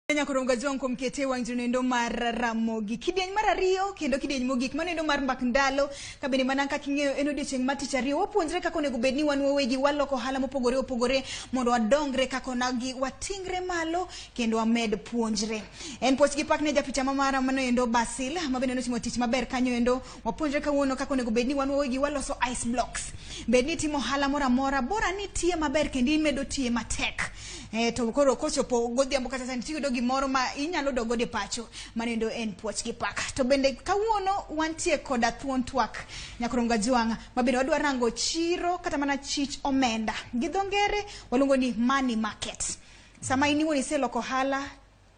Kenya koro ngazi wangu mkete wang junendo mar Ramogi. Kidieny mar ariyo kendo kidieny mogik manendo mar mbak ndalo kabende mana kaka ing'eyo en odiechieng' mar tich ariyo wapuonjre kaka onego bed ni wan wawegi waloko ohala mopogore opogore mondo wadongre kaka onagi watingre malo kendo wamed puonjre. En poch gi pak ne japicha ma mara manoendo Basil mabende notimo tich maber kanyo endo Wapuonjre kawuono kaka onego bed ni wan wawegi waloso ice blocks. Bed ni itimo ohala moro amora, bora ni itiye maber kendo imedo tiye matek. Eh, to koro kochopo godhiambo kata sani tiyudo gimoro ma inyalo dok godo e pacho manendo en puoch gi paka. To bende kawuono wantie koda thuon twak Nyakorongo Ajwang' ma bende wadwa rango chiro kata mana chich omenda. Gi dho ngere waluongo ni money market. Sama in iwuon iseloko ohala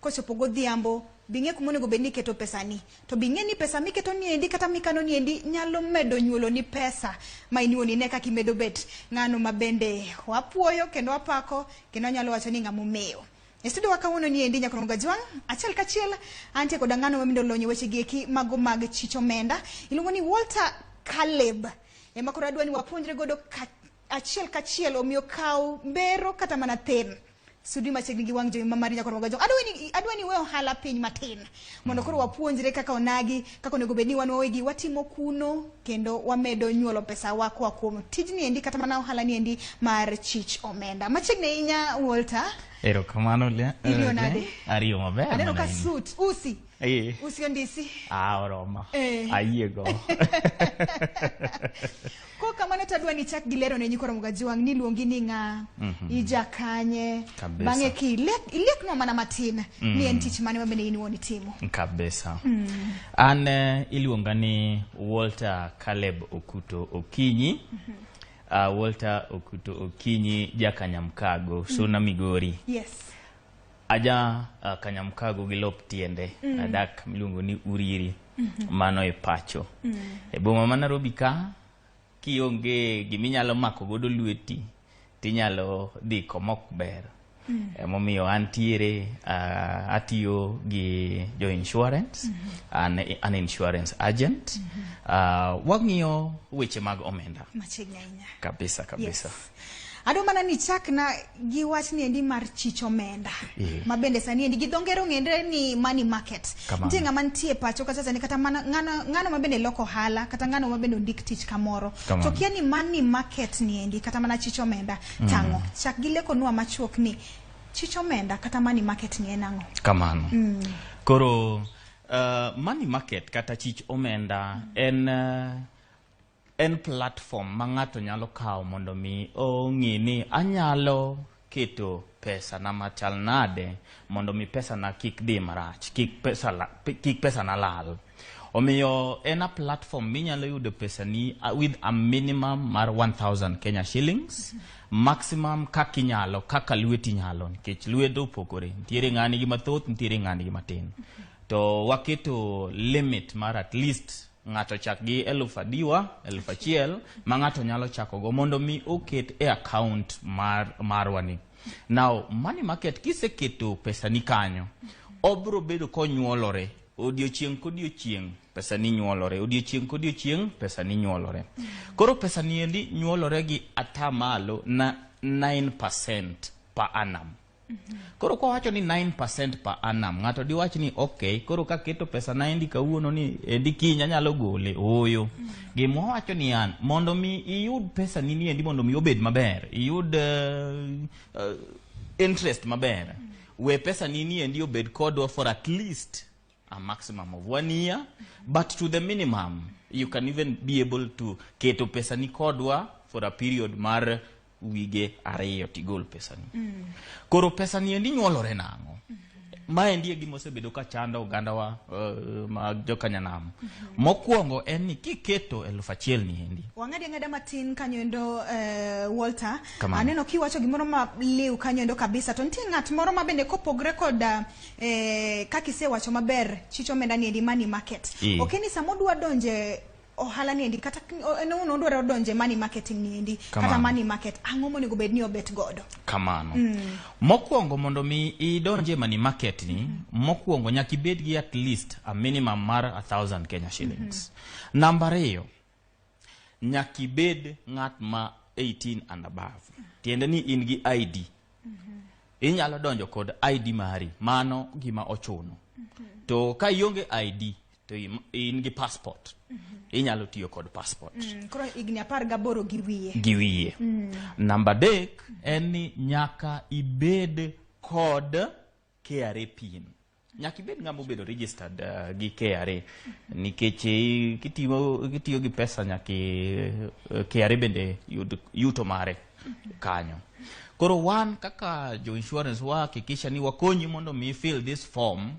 Kochopo godhiambo, bing'e kuma onego bed ni iketo pesani. To bing'e ni pesa miketo ni endi kata mikano ni endi nyalo medo nyuolo ni pesa ma in iwuon ine kaka imedo bet ng'ano ma bende wapuoyo kendo wapako kendo anyalo wacho ni ng'ama omewo. E studio wa kawuono ni endi Nyakono Gajwang', achiel kachiel antie koda ng'ano ma bende olony e weche gi eki mago mag chich omenda. Iluongo ni Walter Caleb. Ema koro adwa ni wapuonjre godo ka achiel kachiel omiyo kaw mbero kata mana thin sudi machiegni gi wang' jowi ma mari nyakoro magajo adwa ni adwa ni we ohala piny matin mondo koro wapuonjre kaka onagi kaka onego bed ni wan wawegi watimo kuno kendo wamedo nyuolo pesa wa koa kuom tijni endi kata mana ohala ni endi mar chich omenda machiegni ahinya Walter erokamano le- Iriyo le- nade? ariyo maber aneno ka mana in. suit usi Eh. usi ondisi Ah, oromo Eh. ayiego Kok kamano to adwa ni ichak gi lero ne nyikwa Ramogi Ajiwang' ni iluongi ni ng'a, ija kanye, Kabisa. bang'e ki ilek- ileknwa mana matin ni en tich mane ma bende in iwuon itimo. kabisa an eh, iluonga ni walter caleb okuto okinyi uh, walter okuto okinyi jakanyamkago suna migori Yes. Aja uh, Kanyamkago gi lop tiende mm. adak miluongo ni Uriri mm -hmm. mano e pacho mm. e boma ma Nairobi ka kionge giminyalo mako godo lweti tinyalo dhi komok ber mm. emomiyo antiere uh, atiyo gi jo insurance mm -hmm. an, an insurance agent mm -hmm. uh, wang'iyo weche mag omenda kabisa kabisa yes. Adwa mana ni chakna gi wach ni endi mar chich omenda yeah. ma bende sani endi gi dho ngere ong'ere ni money market. Nitie ng'ama nitie pacho kata sani kata mana ng'ano ng'ano ma bende loko hala kata ng'ano ma bende ondik tich kamoro. Kamano. To kia ni money market ni endi kata mana chich omenda mm. tang'o. Chak gi leko nua machuok ni chich omenda kata money market ni en ang'o. Kamano. Mm. Koro uh, money market kata chich omenda mm. en uh, En platform ma ng'ato nyalo kawo mondo mi ong'i ni anyalo keto pesa na machal nade mondo mi pesa na kik dhi marach, kik pesa la, kik pesa na lal. Omiyo en a platform minyalo yudo pesa ni uh, with a minimum mar 1000 Kenya shillings maximum kaka inyalo kaka lweti nyalo nikech lwedo opogore nitiere ng'ani gi mathoth nitiere ng'ani gi matin to waketo limit mar at least ng'ato chak gi eluf adiwa eluf achiel ma ng'ato nyalo chakogo mondo mi oket e account mar marwa ni now money market kiseketo pesa ni kanyo obro bedo konyuolore odiochieng' kodiochieng' pesa ni nyuolore odiochieng' kodiochieng' pesa ni nyuolore koro pesa ni endi nyuolore gi atamalo na 9% per annum Koro kwa wacho ni 9% per annum, ng'ato diwach ni okay, koro ka keto pesa na endi kawuono ni endi kiny anyalo gole. Ooyo. Gima wacho ni an mondo mi iyud pesa ni ni endi mondo mi obed maber, iyud uh, uh, interest maber. We pesa ni ni endi obed kodwa for at least a maximum of one year but to the minimum you can even be able to keto pesa ni kodwa for a period mar wige ariyo tigol pesa ni mm. koro pesa ni endi nyuolore nang'o mm -hmm. ma endi e gima osebedo ka chando oganda wa uh, ma jokanyanam mm -hmm. mokwongo en ni kiketo elfu achiel ni endi wang'adi ang'ada matin kanyo endo uh, walter aneno kiwacho gimoro ma liw kanyo endo kabisa to nitie ng'at moro ma bende kopogre kod uh, eh, kaka isewacho maber chich omenda ni endi money market mm. ok ni sama odwa donje ohala ni endi kata en owuon odwaro donje money marketing ni endi kata money market ang'o monego bed ni obet godo kamano mm. mokwongo mondo mi idonje money market ni mm. mokwongo nyaka ibed gi at least a minimum mar 1000 Kenya shillings mm -hmm. namba ariyo nyaka ibed ng'at ma 18 and above tiende ni in gi id inyalo donjo kod id mari mano gima ochuno to ka ionge id to im- in gi passport inyalo tiyo kod passport Mm, koro higni apar gaboro gi wiye gi wiye namba adek en ni nyaka ibed kod KRA pin Nyaka ibed ng'ama obedo registered uh, gi KRA nikech eh, kitiyo kitiyo gi pesa nyaka eh, KRA bende yud yuto mare kanyo. Koro wan kaka jo insurance wahakikisha ni wakonyi mondo mi fill this form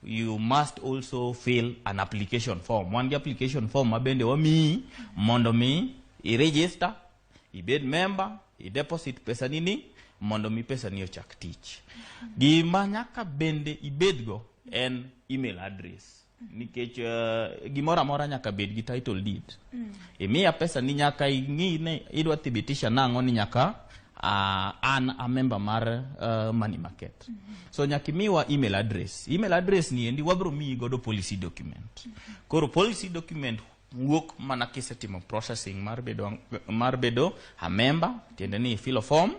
you must also fill an application form. Wan gi application form ma bende wamiyi mondo mi i register Ibed memba, ideposit pesani ni mondo mi pesani ochak tich. Gima nyaka bende ibedgo en email address nikech uh, gimoro amora nyaka bed gi title deed mm. imiya pesa ni nyaka ing'i ne idwa thibitisha nang'o ni nyaka uh, an a member mar uh, money market mm -hmm. so nyaka imiwa email address email address ni endi wabro miyi godo policy document mm -hmm. koro policy document wuok mana kisetimo processing mar bedo, mar bedo a member tiende ni filo form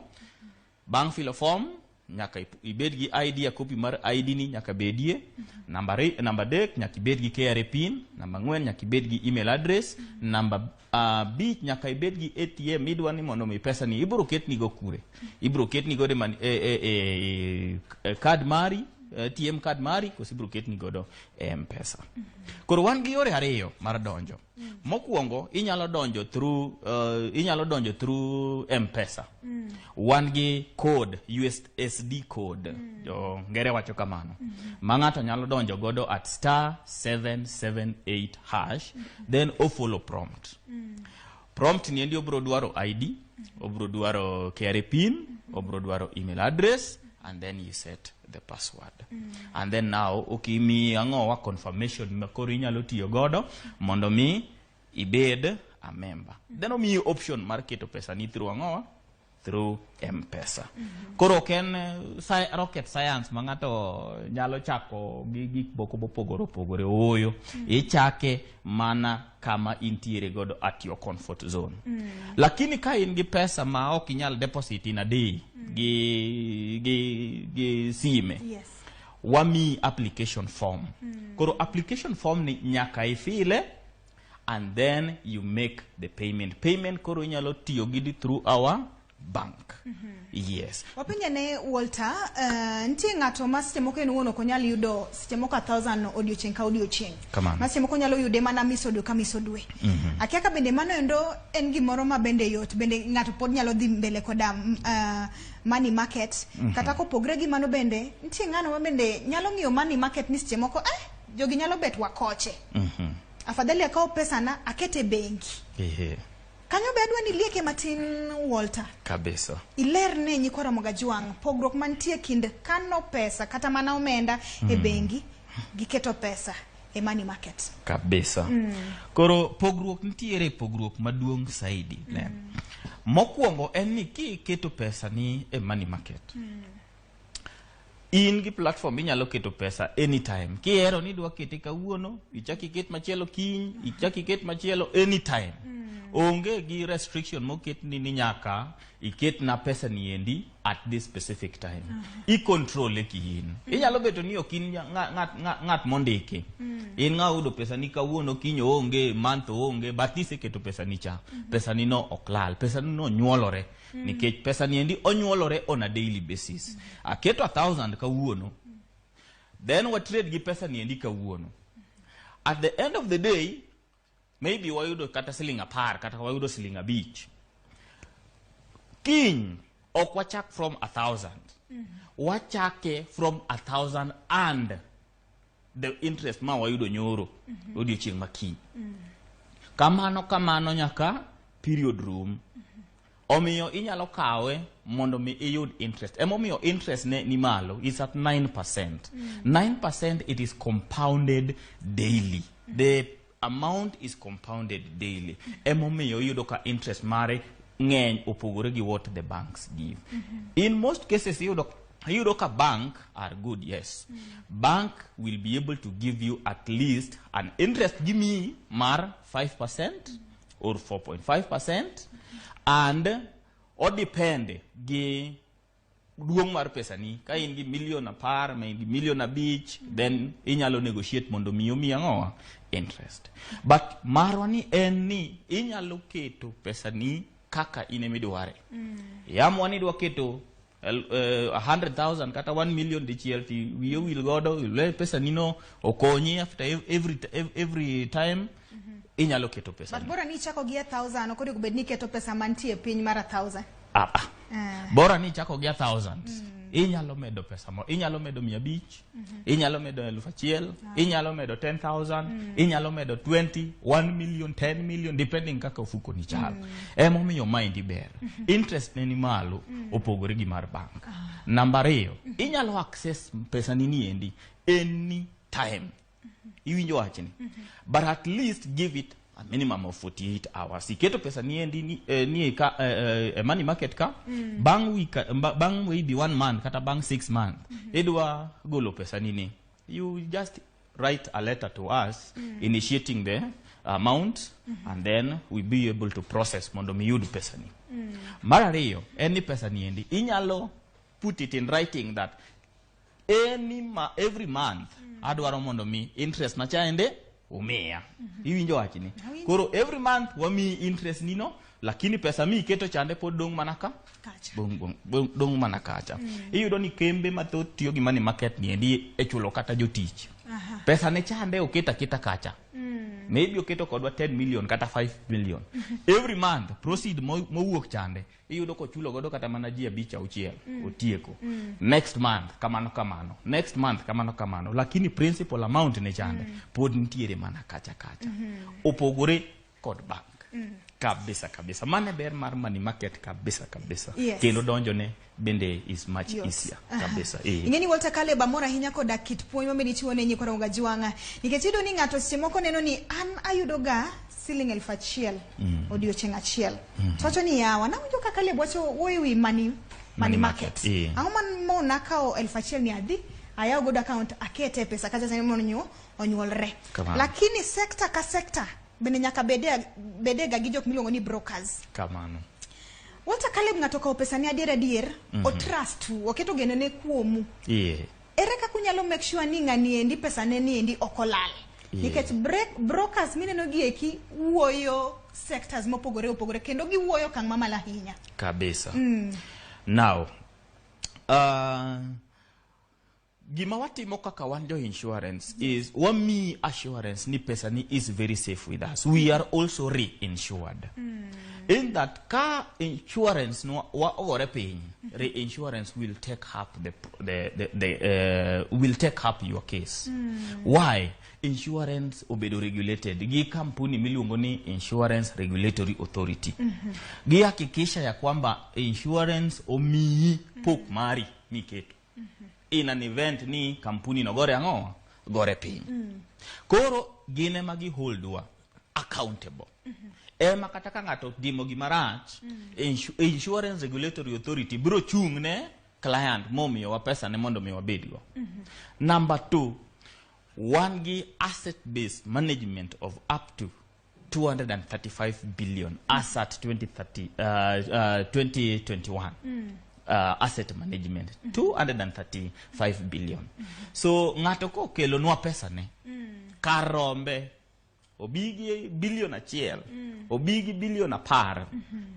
bang' filo form nyaka ip- ibed gi id a copy mar id ni nyaka bedie namba re- namba adek nyaka ibed gi kra pin namba ang'wen nyaka ibed gi email address namba uh, bich nyaka ibed gi atm midwa ni mondo mi pesa ni ibiro ketnigo kure ibiro ketnigo e, man- e, e, e, e, card mari ATM card mari koso ibiro ketni godo e mpesa koro wan gi yore ariyo mar donjo mokwongo inyalo donjo through uh, inyalo donjo through mpesa wan gi code usd code jo ngere wacho kamano ma ng'ato nyalo donjo godo at star 778 hash then ofollow prompt Prompt ni endi obro dwaro ID, obro dwaro KRA pin, obro dwaro email address and then you set the password. And then now okimi ang'owa confirmation ma koro inyalo tiyo godo mondo mi ibed a member. Then omiyi option mar keto pesa ni through ang'owa through mpesa koro ok en eh, sci- rocket science ma ng'ato nyalo chako gi gik moko mopogore opogore ooyo ichake mana kama intiere godo at your comfort zone lakini ka in gi pesa ma ok inyal deposit in a day gi, gi, gi sime Yes. wamiyi application form koro application form ni nyaka ifile and then you make the payment payment koro inyalo tiyo gidi through our bank mm -hmm. yes wapenja ne walter uh, nitie ng'ato ma seche moko en wuon ok onyal yudo seche moko a thousand odiochieng' ka odiochieng' ma seche moko onyalo yude mana miso dwe ka miso dwe mm -hmm. akia ka bende mano endo en gimoro ma bende yot bende ng'ato pod nyalo dhi mbele koda uh, money market mm -hmm. kata kopogre gi mano bende nitie ng'ano ma bende nyalo ng'iyo money market ni seche moko eh Jogi nyalo bet wakoche. Mhm. Afadhali akaw pesana akete bengi. Ehe. Kanyo be adwa ni lieke matin Walter. Kabisa. Iler ne nyikwa Ramoga Jwang' pogruok mantie kind kano pesa kata mana omenda mm. e bengi gi keto pesa e money market. Kabisa. Mm. Koro pogruok nitiere pogruok maduong' saidi. Mm. Mokwongo en ni kiketo pesa ni e money market. Mm. in gi platform inyalo keto pesa anytime kihero ni idwa kete kawuono ichak iket machielo kiny ichak iket machielo anytime mm. onge gi restriction moket ni ni nyaka iket na pesa ni endi at this specific time mm. i control e kiin mm. inyalo beto ni ok in ng'at mondiki mm. in ng'a udo pesa ni kawuono kiny onge month onge but iseketo pesa ni cha mm -hmm. pesa ni no ok lal pesa ni no nyuolore mm. nikech pesa niendi onyuolore on a daily basis aketo a thousand kawuono then wa trade gi pesa niendi kawuono at the end of the day maybe wayudo kata siling apar kata wayudo siling abich kiny ok wachak from a thousand mm -hmm. wachake from a thousand and the interest ma wayudo nyoro mm -hmm. odiochieng' makiny mm -hmm. kamano kamano nyaka period room mm -hmm. omiyo inyalo kawe mondo mi iyud interest emomiyo interest ne ni malo is at 9 percent mm -hmm. 9 percent it is compounded daily mm -hmm. the Amount is compounded daily. Emomiyo iyudo ka interest mare ng'eny opogore gi what the banks give. Mm -hmm. In most cases iyudo iyudo ka bank are good yes. Mm -hmm. Bank will be able to give you at least an interest give me mar 5% mm -hmm. or 4.5% and or depend gi duong' mar pesani ka in gi milion apar ma in gi milion abich then inyalo negotiate mondo mi omi ang'owa interest but marwa ni en ni inyalo keto pesani kaka in ema idware yamwa ni idwa keto el- eh, 100,000 kata 1 million dichiel ti wiye wil godo ile pesanino okonyi after ev- every, ev- every time Mhm. inyalo keto pesa but bora ni ichako gi a thousand ok onego bed ni iketo pesa mantie piny mar a thousand ah, ah. Eh. bora ni ichako gi a thousand mm. inyalo medo pesa mo inyalo medo mia abich mm -hmm. inyalo medo elfu achiel ah. inyalo medo 10000 mm. inyalo medo 20 1 million 10 million depending kaka ofuko ni chal mm. emomiyo maendi ber mm -hmm. interest ne ni malo mm. opogore gi mar bank ah. namba ariyo mm -hmm. inyalo access pesa ni niendi any time iwinjo wachni but at least give it a minimum of 48 hours iketo pesa niendi ni, eh, nie ka, eh, eh, eh, money market ka mm. bang week eh, ba- bang maybe one month kata bang six month mm -hmm. idwa golo pesa nini you just write a letter to us mm. initiating the amount mm -hmm. and then we be able to process mondo miyud pesa ni mm. mar ariyo en ni pesa niendi inyalo put it in writing that any ma, every month adwaro mondo mi interest na chaende umiya iwinjo wachni Awinjo. koro every month wamiyi interest nino lakini pesa mi iketo chande pod dong' mana ka Kacha. dong', dong', dong', dong' mana kacha iyudo ni kembe mathoth tiyo gi money market ni endi e chulo kata jotich Aha. pesa ne chande oket aketa kacha Mm. maybe oketo kodwa 10 million kata 5 million every month proceed mo- mowuok chande iyudo kochulo godo kata mana ji abich auchiel mm. otieko mm. next month kamano kamano next month kamano kamano lakini principal amount ne chande mm. pod nitiere mana kacha kacha mm -hmm. opogore kod bank mm. kabisa kabisa mane ber mar money market kabisa kabisa yes. kendo donjo ne bende is much yes. easier kabisa uh -huh. Eh. ingeni Walter Kale bamora hinya koda kit puonj ma medi chiwo ne nyikwa ronga jwanga nikech yudo ni ng'ato seche moko neno ni an ayudo ga siling elfu achiel mm. odiochieng achiel mm -hmm. towacho ni yawa nawinjo kaka leb wacho wuoyo ewi money, money market yeah. ang'o mo nakawo elfu achiel ni adhi ayawo godo account akete pesa kacha sani mondo onyuolre lakini sekta ka sekta bende nyaka bedega bede gi jok miluongo ni brokers kamano wata kaleb ng'ato okawo pesa ni adier adier mm -hmm. otrust oketo geno ne kuomu yeah. Ere kaka unyalo make sure ni ng'ani endi pesane ni endi ok olal? Yeah. Nikech break, brokers mineno gi eki wuoyo sectors mopogore opogore kendo giwuoyo okang' mamalo ahinya. Kabisa. Mm. Now, uh, gima watimo kaka wan jo insurance is wami assurance ni pesa ni is very safe with us we are also reinsured mm. in that Ka insurance no wa ogore piny, reinsurance will take up the the the, the uh, will take up your case. Mm. Why? Insurance obedo regulated gi kampuni miluongo ni Insurance Regulatory Authority. Mm -hmm. Gihakikisha ya kwamba insurance omiyi pok mari miketo. in an event ni kampuni no gore ang'o gore piny mm. koro gine ma gi holdwa accountable mm -hmm. ema kata ka ng'ato timo gima rach mm. insu insurance regulatory authority biro chung' ne client momiyowa pesa ne mondo mi wabedgo mm -hmm. number two wan gi asset based management of up to 235 billion as at 2030, uh, uh, 2021 uh, asset management 235 billion so ng'ato kokelonwa pesane kar rombe obi gi bilion achiel obi gi bilion apar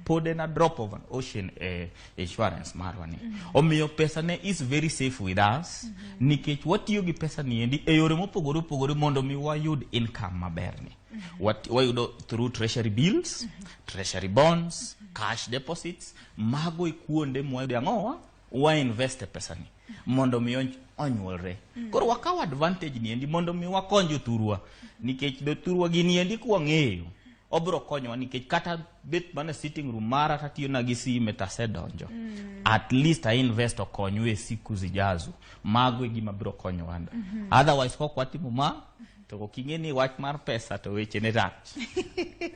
pod en a drop of an ocean eh, insurance marwa ni mm -hmm. omiyo pesa ne is very safe with us mm -hmm. nikech watiyo gi pesa ni endi e yore mopogore opogore mondo mi wayud income maber ni mm -hmm. wayudo through treasury bills mm -hmm. treasury bonds mm -hmm. cash deposits mago e kuonde mwayude ang'owa wainvest e pesa ni mondo mi onyuolre. Mm. Koro wakaw advantage ni endi mondo mi wakony jothurwa nikech jothurwa gini endi kwang'eyo obro konyowa nikech kata bet mana sitting room mara tatiyo na gi sime tasedonjo mm. at least i invest okonyu e siku zijazo mago e gima biro konyowa mm -hmm. otherwise kok watimo ma to kok ing'e ni wach mar pesa to weche ne rach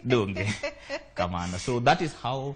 donge kamano so that is how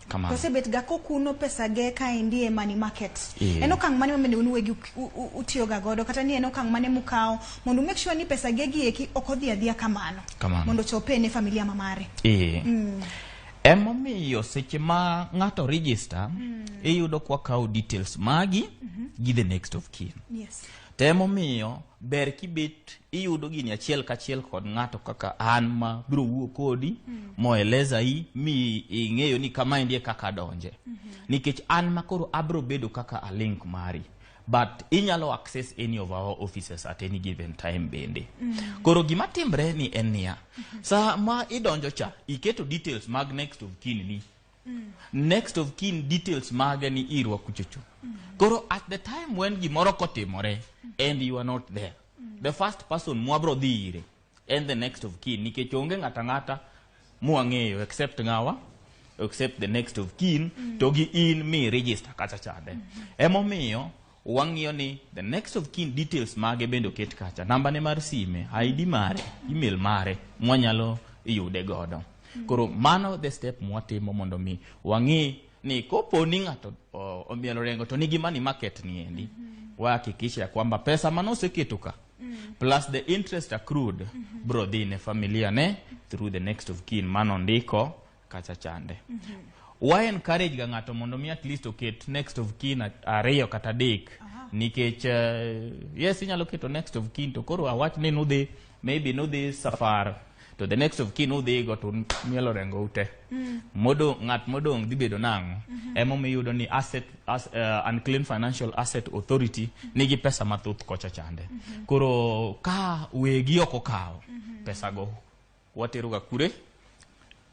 Kamano. osebetga kokuno pesage kaendi e money market Yeah. en okang' mane mamende un uwegi uk- u- u- utiyoga godo kata ni en okang' mane mukawo mondo make sure ni pesage gi eki ok odhi adhiya kamano Kamano. mondo ochope ne familia ma mare Ee. Emomiyo seche ma ng'ato register, iyudo kwa kawo details magi gi the next of kin. yes Tem omiyo ber kibet iyudo gini achiel kachiel kod ng'ato kaka an ma biro wuo kodi mm. moeleza i mi ing'eyo ni kama endi e kaka donje mm -hmm. nikech an ma koro abiro bedo kaka a link mari but inyalo access any of our offices at any given time bende mm -hmm. koro gima timbre ni en niya mm -hmm. sama idonjo cha iketo details mag next of kin ni mm. next of kin details mage ni irwa kuchocho mm. koro at the time when gimoro kotimore mm. and you are not there mm. the first person mwabro dhi ire and the next of kin nikech onge ng'ata ng'ata mwang'eyo except ng'awa except the next of kin mm. to gi in mi register kacha chande mm. emomiyo Wang'iyo ni the next of kin details mage bende oket kacha, namba ne mar sime, ID mare, email mare mwanyalo yude godo. Koro mano the step mwatimo mondo mi wang'i ni kopo ni ng'ato o- omielo rengo to nigi money market ni endi. Wahakikisha ya kwamba pesa mane oseketo ka plus the interest accrued bro dhi ne familia ne through the next of kin mano ndiko kacha chande mm -hmm. wa encourage ga ng'ato mondo mi at least oket next of kin ariyo kata adek uh -huh. nikech uh, yes inyalo keto next of kin to koro awach ni nudhi maybe nudhi safar to the next of kin udhi go to mielo rengo ute mm. modong ng'at modong dhi bedo nang'o mm -hmm. ema miyudo ni asset as, uh, unclean financial asset authority mm -hmm. nigi pesa mathoth kocha chande mm -hmm. koro ka wegi ok okawo mm -hmm. pesa go wateroga kure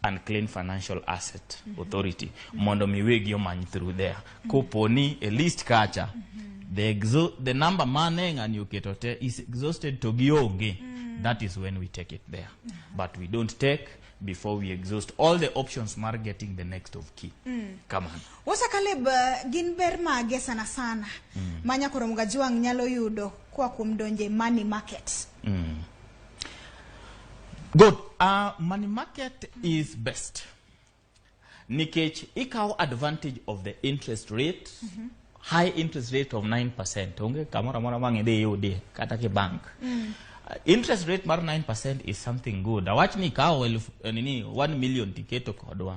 unclean financial asset mm -hmm. authority mm -hmm. mondo miwegi omany through there mm -hmm. koponi e list kacha mm -hmm. the, exo the number mane ng'ani oketo te is exhausted to gionge mm -hmm. that is when we take it there mm -hmm. but we don't take before we exhaust all the options mar getting the next of key mm. come on wasa kaleb uh, gin ber mage sana sana mm. manya koro mgajuang nyalo yudo kwa kuom donje money market mm. Good. Uh, money market is best. Nikech ikaw advantage of the interest rate, mm -hmm. high interest rate of 9%. Onge kamora mora mangi de yudi kata ki bank. Mm. Uh, interest rate mar 9% is something good. Awach ni ikaw elf, eh, nini 1 million tiketo kodwa.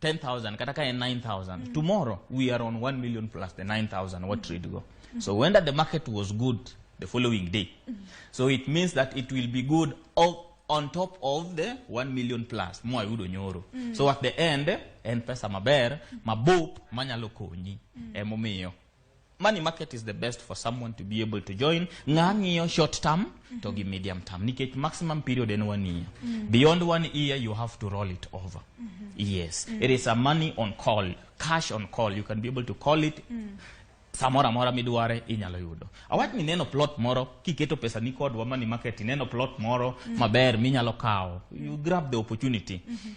10,000 kata ka en 9,000 mm. tomorrow we are on 1 million plus the 9,000 what trade go mm. so when that the market was good the following day mm. so it means that it will be good of, on top of the 1 million plus mo ayudo nyoro mm. so at the end en pesa maber mabup manyalo konyi mm. emomiyo money market is the best for someone to be able to join ng'a ng'iyo short term mm -hmm. to gi medium term nikech maximum period en one year mm -hmm. beyond one year you have to roll it over mm -hmm. yes mm -hmm. it is a money on call cash on call you can be able to call it mm -hmm samora mora midware inyalo yudo awach ni neno plot moro kiketo pesa ni kod wamani market neno plot moro mm -hmm. maber minyalo kawo you grab the opportunity mm -hmm.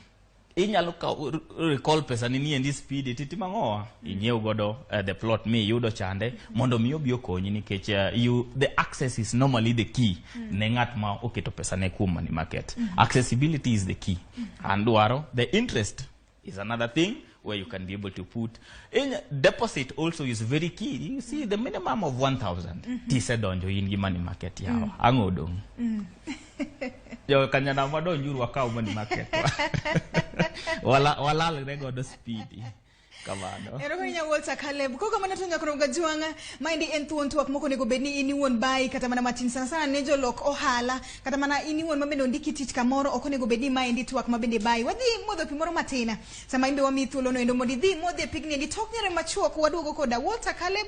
inyalo kawo recall pesa ni ni endi speed titi mangoa inyiew godo uh, the plot mi yudo chande mondo mi obi okonyi nikech uh, you the access is normally the key mm. ne ngat ma oketo pesa ne kuom money market mm -hmm. accessibility is the key mm -hmm. and waro the interest is another thing where you can be able to put in deposit also is very key you see the minimum of 1000 mm -hmm. tisedonjo in gi money market yawa mm. angodong mm. jokanyana madonjuru wakaw mani maketwa Wala- walalre godo spidi kamano erokonya walter caleb koko mana tonya koro gajuanga maendi en thuon twak moko onego bed ni in iwuon bayi kata mana matin sana sana ne jolok ohala kata mana in iwuon mabende ondiki tich kamoro ok onego bed ni maendi twak mabende bayi wadhi modho pi moro matin sama imbe wamiyi thuolono endo mondo idhi modhi e pigni endi tok nyere machuok waduogo koda walter caleb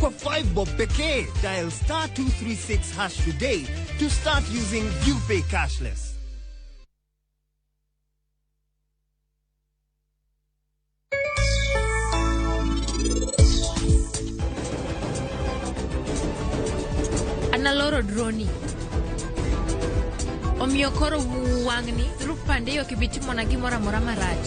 Kwa 5 bob pekee, dial star 236 hash today to start using UPay cashless. analoro droni omiyo koro wang'ni through pande yo kibitimona gimoro amora marach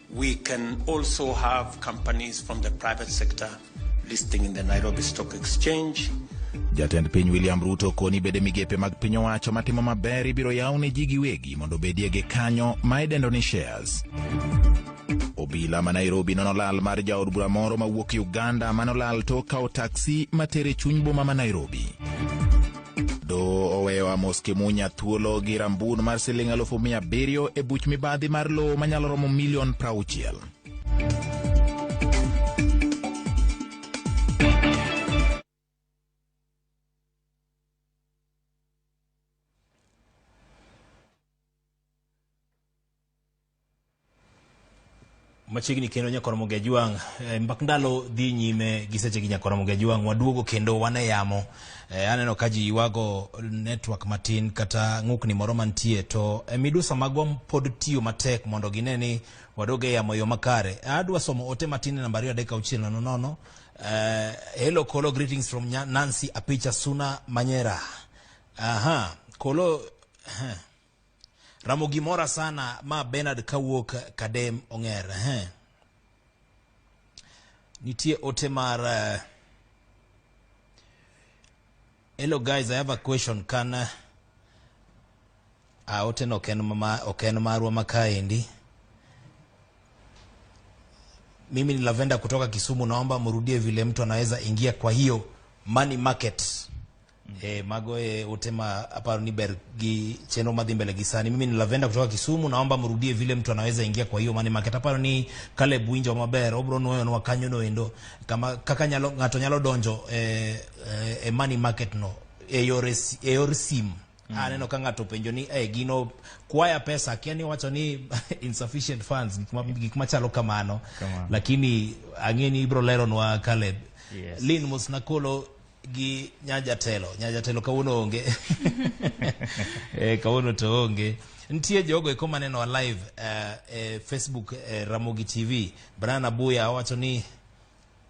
We can also have companies from the private sector listing in the Nairobi Stock Exchange. Jatend piny William Ruto koni bede migepe mag piny owacho matimo maber ibiro yaw ne ji giwegi mondo obedie gi kanyo ma idendo ni shares. Obila ma Nairobi nono lal mar jaod bura moro mawuok Uganda manolal tok kawo taksi matere chuny boma ma Nairobi. Doho oweyo Amos Kimunya thuolo gi rambun mar siling alufu mia abiriyo e buch mibadhi mar lowo manyalo romo milion prauchiel. machiegni kendo nyakoromo gi ajwang eh, mbak ndalo dhi nyime gi seche gi nyakoromo gi ajwang waduogo kendo wan e yamo eh, aneno ka ji ywago network matin kata ng'ukni moro mantie to e midusa magwa pod tiyo matek mondo gine ni waduog e yamo yo makare adwa somo ote matin e namba ariyo adek auchiel nono nono eh, hello kolo greetings from nancy apicha suna manyera aha kolo Ramogi mora sana ma Bernard kawuok Kadem Ong'er. Ehe. Nitie ote mar eh, Hello guys, I have a question. Can eh, ah, ote no ok en ma ok en marwa makaendi. Mimi ni Lavenda kutoka Kisumu, naomba mrudie vile mtu anaweza ingia kwa hiyo money market. E, mago e, ute ma aparo ni ber gi chenro madhi mbele gi sani. Mimi ni Lavenda kutoka Kisumu, naomba mrudie vile mtu anaweza ingia kwa hiyo money market. Aparo ni Caleb winjo maber, obro nwoyo nwa kanyo no endo kama kaka nyalo ng'ato nyalo donjo e, e, e money market no e yor es- e yor sim. Mm. Aneno ka ng'ato penjo ni eh, gino kwaya pesa akia ni wacho ni insufficient funds gik ma- gik machalo kamano. Kamano. Lakini ang'e ni ibro leronwa Caleb. Yes. Lin Musnakolo gi nyajatelo nyajatelo kawuono onge eh, kawuono to onge nitie jogo eko maneno live uh, e facebook eh, ramogi tv brian abuya owacho ni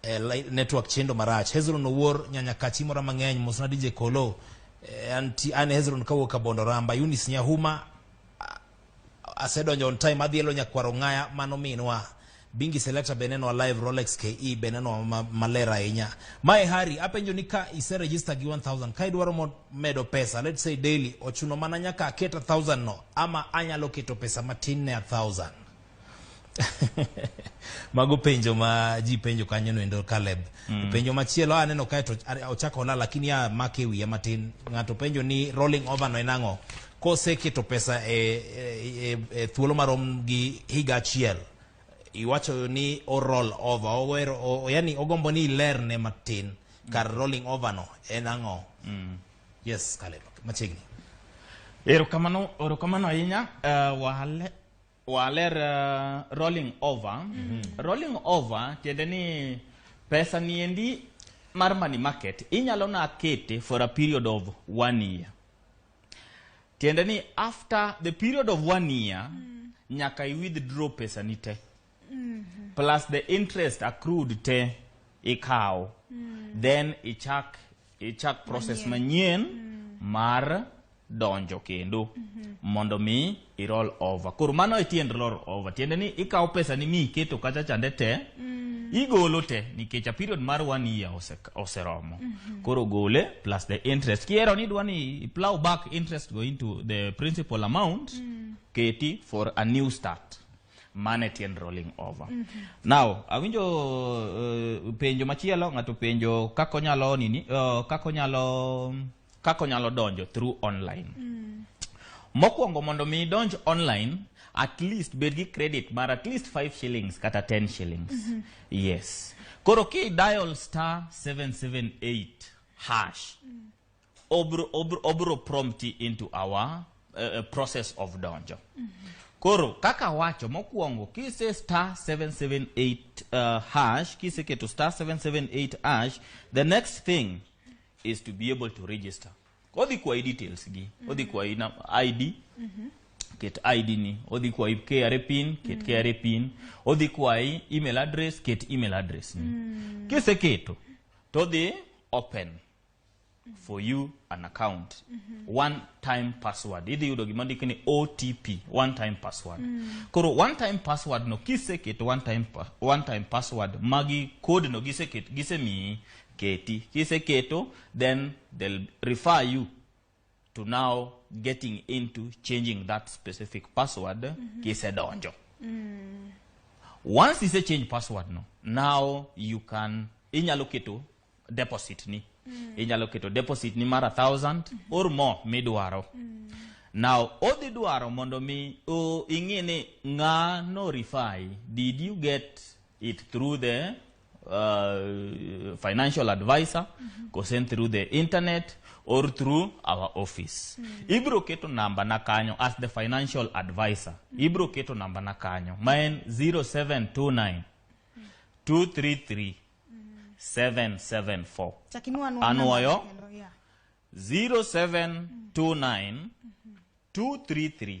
eh, network chendo marach hezron owuor nyanya kachi mora mang'eny mosna dije kolo eh, anti, an hezron kawuok abondo ramba unis nyahuma Asedonjo on time adhielo nyakwar ong'aya mano minwa Bingi Selector be nenwa live Rolex KE be nenwa ma- maler ahinya mae Hari apenjo ni ka ise register gi 1000 ka idwaro mo- medo pesa let's say daily ochuno mana nyaka aketa 1000 no ama anyalo keto pesa matin ne 1000 mago penjo ma ji penjo kanyo noendo Caleb mm. penjo machielo aneno kae to ochako ola lakini ya make wiya matin ng'ato penjo ni rolling over no enang'o koseketo pesa e, e, e, e thuolo marom gi higa achiel iwacho ni o roll over owero o, yani ogombo ni ilerne matin kar rolling over no en ang'o mm. yes Caleb machiegni erokamano erokamano ahinya uh, wale waler uh, rolling over mm -hmm. rolling over tiende ni pesa niendi mar money market inyalo na kete for a period of one year tiende ni after the period of one year mm. nyaka i withdraw pesa ni te mm -hmm. plus the interest accrued te ikawo mm. then ichak ichak process manyien mm. mar donjo kendo mondo mi i roll over koro mano e tiend roll over tiende ni ikawo pesa ni mi iketo kacha chande te igolo te nikech a period mar one year ose, oseromo koro gole plus the interest kiero ni idwa ni i plow back interest go into the principal amount keti for a new start mane tiend rolling over now awinjo uh, penjo machielo ng'ato penjo kako nyalo nini uh, kako nyalo Kako nyalo donjo through online. Mm. Mokwongo mondo mi idonj online, at least bed gi credit mar at least 5 shillings kata 10 shillings. Mm -hmm. Yes. Koro ki dial star 778 hash. Mm. Obro, obro, obro prompt into our uh, process of donjo. Mm -hmm. Koro kaka wacho mokwongo kise star 778 uh, hash kiseketo star 778 hash the next thing is to be able to register odhi kwayi details gi odhi kwayi na- id ket id ni odhi kwayi kra pin ket kra pin odhi kwayi email address ket email address ni kiseketo to odhi open for you an account one time password idhi yudo gima ndiki ni otp one time password koro one time password no kiseketo one time, pa- one time password magi code no giseketo gisemiyi keti kiseketo then they'll refer you to now getting into changing that specific password mm -hmm. kisedonjo mm. once ise change password no now you can inyalo keto deposit ni mm. inyalo keto deposit ni mara thousand mm -hmm. or more midwaro mm. now odhi dwaro mondo mi ing'e ni ng'ano rifai did you get it through the uh, financial advisor mm -hmm. go send through the internet or through our office mm -hmm. ibro keto namba na kanyo as the financial advisor mm -hmm. ibro keto namba na kanyo ma en 0729 233 774 Chakimiwa anwa- Anwoyo. namba kendo, yeah. 0729 233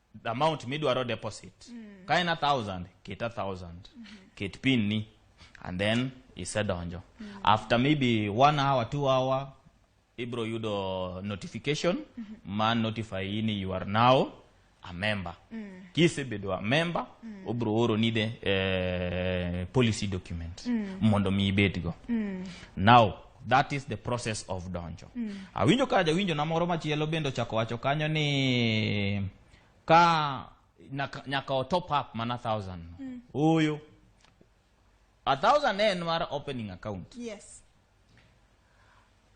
the amount midwaro deposit mm. ka en a thousand ket a thousand mm -hmm. ket pin ni and then isedonjo mm -hmm. after maybe one hour two hour ibro yudo notification mm -hmm. ma notify yi ni you are now a member mm. kisebedo a member mm. obro oro ni the eh, policy document mm. mondo mi ibedgo mm. now That is the process of donjo. Mm. Awinjo ka jawinjo na moro machielo bende ochako wacho kanyo ni ka nyaka, nyaka o top up mana 1000. Mm. Oyo. A thousand en mar opening account. Yes.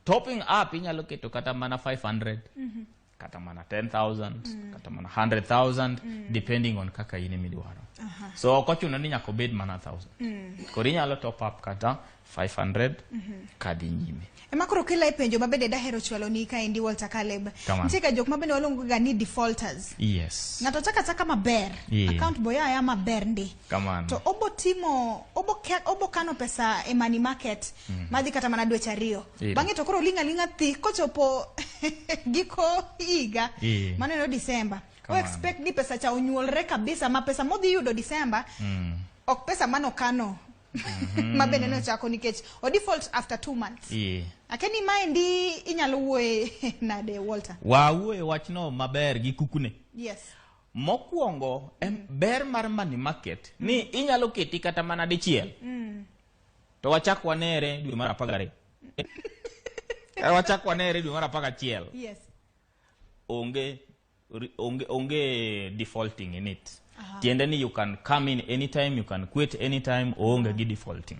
Topping up inyalo keto kata mana 500. Mm -hmm. kata mana 10000 mm. kata mana 100000 mm. depending on kaka in midwaro uh -huh. so ok ochuno ni nyaka obed mana 1000 mm. koro inyalo top up kata 500 mm -hmm. kadhi nyime ema koro kila e penjo mabende dahero chwalo ni ka endi Walter Caleb nitie ka jok mabende waluongo ga ni defaulters yes ng'ato chaka chaka maber yeah. account boya ya maber ndi Kamano. to obo timo obo, ke, obo kano pesa e money market mm -hmm. madhi kata mana dweche ariyo yeah. bang'e to koro linga linga thi kochopo giko higa yeah. mano eno Disemba o expect ni pesa cha onyuolre kabisa ma pesa modhi yudo Disemba mm. ok pesa mano kano mm -hmm. ma bende nochako nikech o default after two months yeah. akeni maendi inyalo wuoye nade Walter wawuoye wachno maber gi kukune yes Mokwongo em ber mar money market ni inyalo keti kata mana dichiel. To wachak wanere dwe mar apar gariyo. Eh, Wachak wanere dwe mar apar gachiel. Yes. Onge ri- onge onge defaulting in it. Tiende ni you can come in anytime, you can quit anytime, oonge gi defaulting.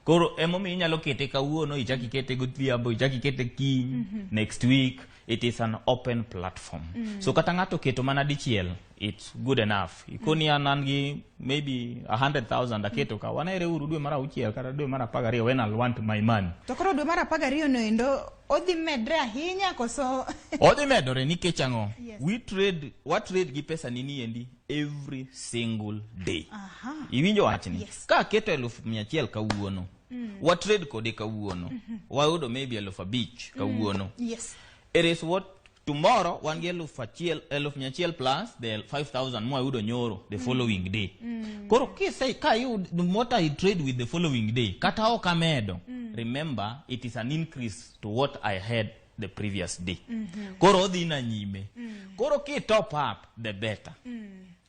Koro emomiyo inyalo kete kawuono, ichak ikete godhiambo, ichak ikete kiny, next week. it is an open platform mm. so kata ng'ato keto mana dichiel it's good enough ikoni mm. an gi maybe 100000 aketo ka wanere uru dwe mar auchiel kata dwe mar 12 when i want my money to koro dwe mar 12 no endo odhi medre ahinya koso odhi medore nikech ang'o yes. we trade wa trade gi pesa nini endi every single day aha iwinjo wachni yes. ka aketo 1100 kawuono mm. wa trade kode kawuono mm -hmm. wayudo maybe eluf abich kawuono mm. yes. it is what tomorrow wan gi eluf achiel eluf mia achiel plus the 5000 mwayudo nyoro the mm. following day mm. koro kise ka yud what i trade with the following day kata ok amedo mm. remember it is an increase to what i had the previous day mm -hmm. koro odhi na nyime mm. koro ki top up the better mm.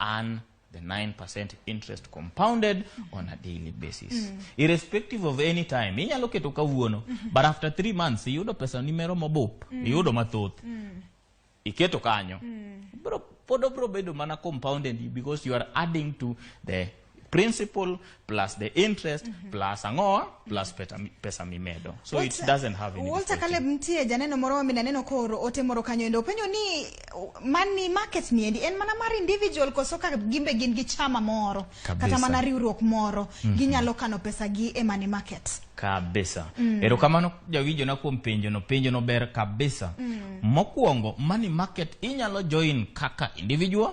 earn the 9% interest compounded on a daily basis mm. irrespective of any time inyalo keto kawuono mm -hmm. but after three months iyudo pesa ni mero mobup mm. iyudo mathoth mm. iketo kanyo mm. bro pod obro bedo mana compounded because you are adding to the principal plus the interest mm -hmm. plus ang'oa plus peta, pesa mimedo so What, it doesn't have any Walter Caleb mtie janeno moro ma minaneno koro ote moro kanyo endo penyo ni money market ni endi en mana mar individual koso ka gimbe gin gi chama moro Kabisa. kata mana riwruok moro mm -hmm. ginyalo kano pesa gi e money market kabisa mm. erokamano jawinjona kuom penjono penjono ber kabisa mm. mokwongo money market inyalo join kaka individual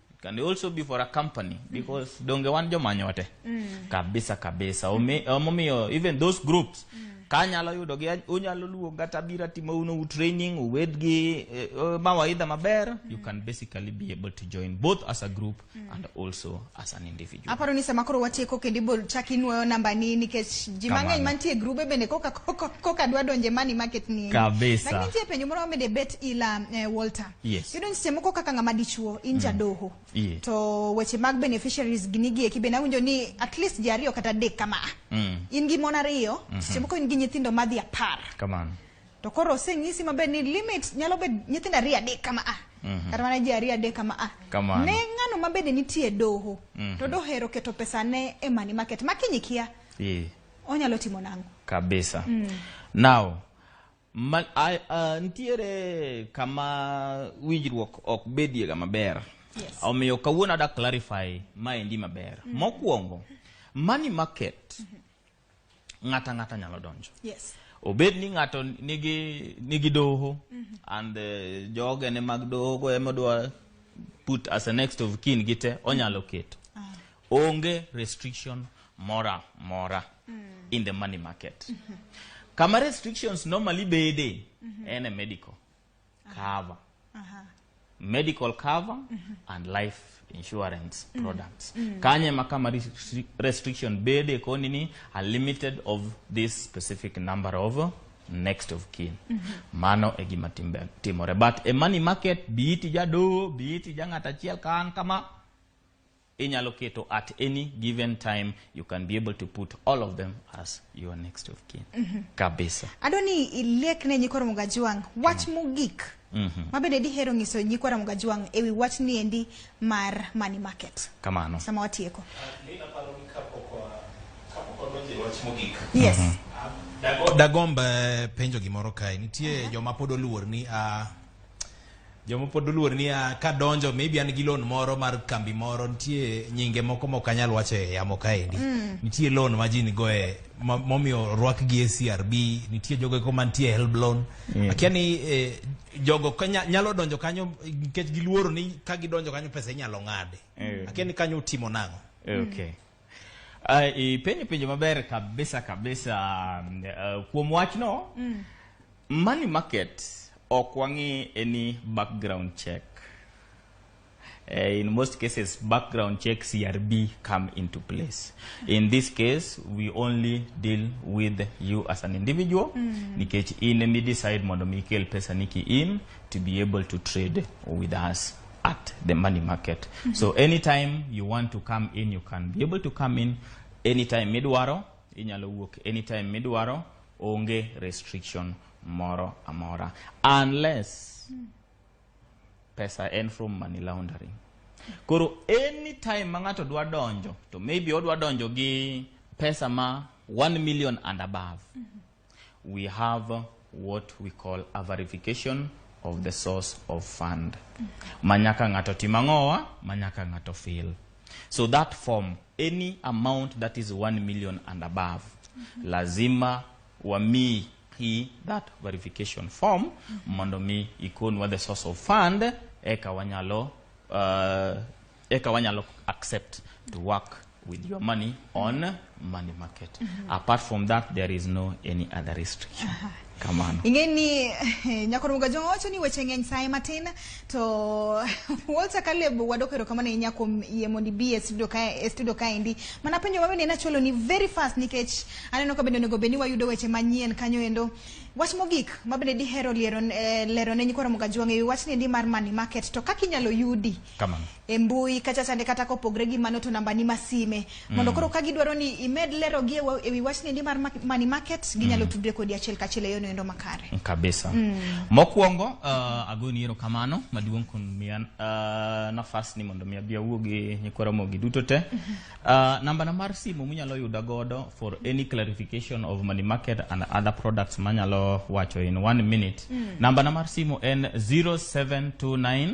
It can also be for a company because mm. donge wan jomanyo wate mm. kabisa kabisa omomiyo um, even those groups mm. kanyalo yudo gi unyalo luwo kata bira timo uno u training uwed gi uh, mawaidha maber mm. you can basically be able to join both as a group mm. and also as an individual aparo ni sama koro watieko kendo ibol chak inuoyo namba ni nikech ji mang'eny mantie grube bende koka koka dwa donje mani market ni kabisa lakini nitie penjo moro mede bet ila uh, Walter Yes. Iyudo ni seche moko kaka ng'ama dichuo in jadoho Yeah. to weche mag beneficiaries gini gieki bende awinjo ni at least ji ariyo kata adek kama Mm. in gi mon ariyo seche moko in gi nyithindo madhi apar Kamano. to koro oseng'isi maber ni limit nyalo bedo nyithindo ariyo adek kama a kata mana ji ariyo adek kama a Kamano. ne ng'ano ma bende nitie doho to dohero keto pesane e money market ma kiny ikia Yeah. onyalo timo nang'o Kabisa. Now, Ma, a, a, nitiere kama winjruok ok bediega maber Yes. omiyo kawuono ada clarify maendi maber mokwongo money market ng'ata ng'ata nyalo donjo Yes. obed ni ng'ato nigi nigi doho and the jogene mag dohogo ema dwa put as a next of kin gite onyalo keto Onge restriction mora mora mm. in the money market. Mm -hmm. Kama restrictions normally bede mm -hmm. ene medical ah. cover. Uh -huh. Uh -huh. Medical cover mm -hmm. and life insurance mm. products mm. kanye makama restriction bede koni ni a limited of this specific number of next of kin mm -hmm. mano e gima timore but e money market biiti jadoho biiti ja ng'at achiel kan kama Inyalo keto at any given time you can be able to put all of them as your next of kin. Mm -hmm. Kabisa. Adwa ni ilek ne nyikoro Mugajwang wach mm. mogik. Mm -hmm. Mabende dihero nyiso nyikoro Mugajwang ewi wach ni endi mar money market. Kamano. Sama watieko. Uh, ni aparo ni kapoko uh, kapoko donje wach mogik. Yes. Mm -hmm. Dagomba eh, penjo gimoro kae. Nitie uh -huh. joma pod oluor ni a uh, jomopod oluor ni ah, kadonjo maybe an gi loan moro mar kambi moro nitie nyinge moko mok anyal wacho e yamo kaendi mm. nitie loan ma ji nigo e momiyo orwak gi e crb nitie jogo eko mantie helb loan mm. akia ni eh, jogo nyalo donjo kanyo nikech giluoro ni ka gidonjo kanyo pesa inyalo ng'ade mm. akia ni kanyo utimo nang'o okay. Uh, ipenjo penjo maber kabisa kabisa uh, kuom wachno mm. money market ok wang'i any background check uh, in most cases background check crb come into place in this case we only deal with you as an individual mm. nikech in midecide mondo mi ikel pesa niki in to be able to trade with us at the money market. Mm -hmm. So anytime you want to come in, you can be able to come in anytime midwaro, inyalo wuok anytime midwaro, onge restriction moro amora. Unless mm. pesa en from money laundering. Koro anytime ma ng'ato dwa donjo, to maybe odwa donjo gi pesa ma 1 million and above. Mm -hmm. We have what we call a verification of the source of fund. Manyaka ng'ato tim ang'owa, manyaka ng'ato fill. So that form, any amount that is 1 million and above, lazima wami hii that verification form mondo mi ikonwa the source of fund eka wanyalo uh, eka wanyalo accept to work with your money on money market apart from that there is no any other restriction kamano ing'e ni eh, nyakor mugajo wacho ni weche ng'eny saye matin to walter kaleb wadok erokamano ahinya kuom yie mondo ibi e studio ka e studio kaendi mana penjo ma bende nachwalo ni very fast nikech aneno ka bende onego bed ni wayudo weche manyien kanyo endo wach mogik ma bende dihero liero eh, lero ne nyikora mugajo wang'eyo wachni endi mar money market to kaka inyalo yudi Kamano. e mbui kacha chande kata kopogre gi mano to nambani ma sime mondo koro ka gidwaro ni imed lerogi e wa- e wi wachni ndi mar ma- money market ginyalo tudre kodi achiel kachiel e yono endo makare kabisa mokwongo uh, agoni ero kamano maduong' kuom miya uh, nafas ni mondo mi abi awuo gi nyikwara mogi duto te uh, nambana mar simu munyalo yuda godo for any clarification of money market and other products manyalo wacho in one minute nambana mar simu en 0729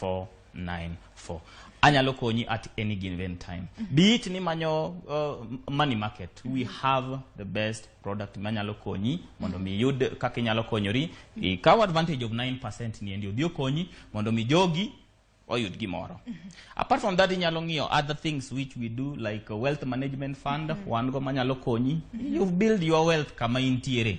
494. Anyalo konyi at any given time. Be it ni manyo uh, money market, we have the best product manyalo konyi mondo mi yud kaka inyalo konyori. Ikaw advantage of 9% ni endi odhi okonyi mondo mi jogi oyud gimoro. Apart from that inyalo ng'iyo other things which we do like uh, wealth management fund, wan go manyalo konyi. You've build your wealth kama intiere.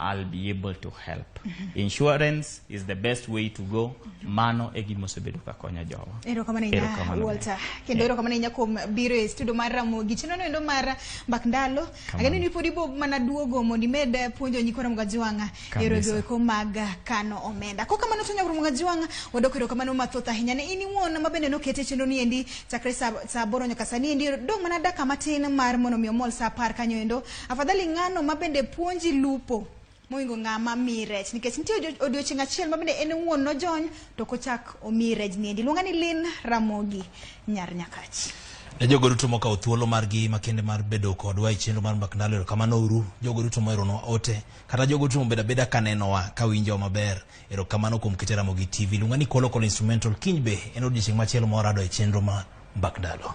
I'll be able to help. Insurance is the best way to go. Mano e gima osebedo ka konyo jowa. Erokamano ahinya Erokamano. Walter. Kendo erokamano ahinya kuom biro e studio mar Ramogi. Chenro no endo mar Mbak Ndalo. Ageno ni pod ibo mana duogo mondo imed eh, puonjo nyikwa Ramogi Ajuang'a Kabisa. yore goeko mag eh, kano omenda. Kok kamano to nyakwa Ramogi Ajuang'a wadok erokamano mathoth ahinya ne in iwuon ma bende nokete chenro ni endi chakre saa saa aboro nyaka sani endi dong' mana dakika matin mar mondo mi omol saa apar kanyo endo Afadhali ng'ano ma bende puonji lupo moingo ng'a ma miyi rech nikech nitie odio- odiochieng' achiel ma bende en wuon nojony to kochak omiyi rech niendi. Iluonga ni Lin Ramogi nyar Nyakach. Ne jogo duto mokawo thuolo margi makende mar bedo kodwa e chenro mar Mbak Ndalo, erokamano uru. Jogo duto moeronwa ote, kata jogo duto mobedo abeda ka nenowa, ka winjowa maber, erokamano kuom kete Ramogi TV. Luonga ni Kolo Kolo Instrumental, kiny be en odiechieng' machielo ma warado e chenro mar Mbak Ndalo.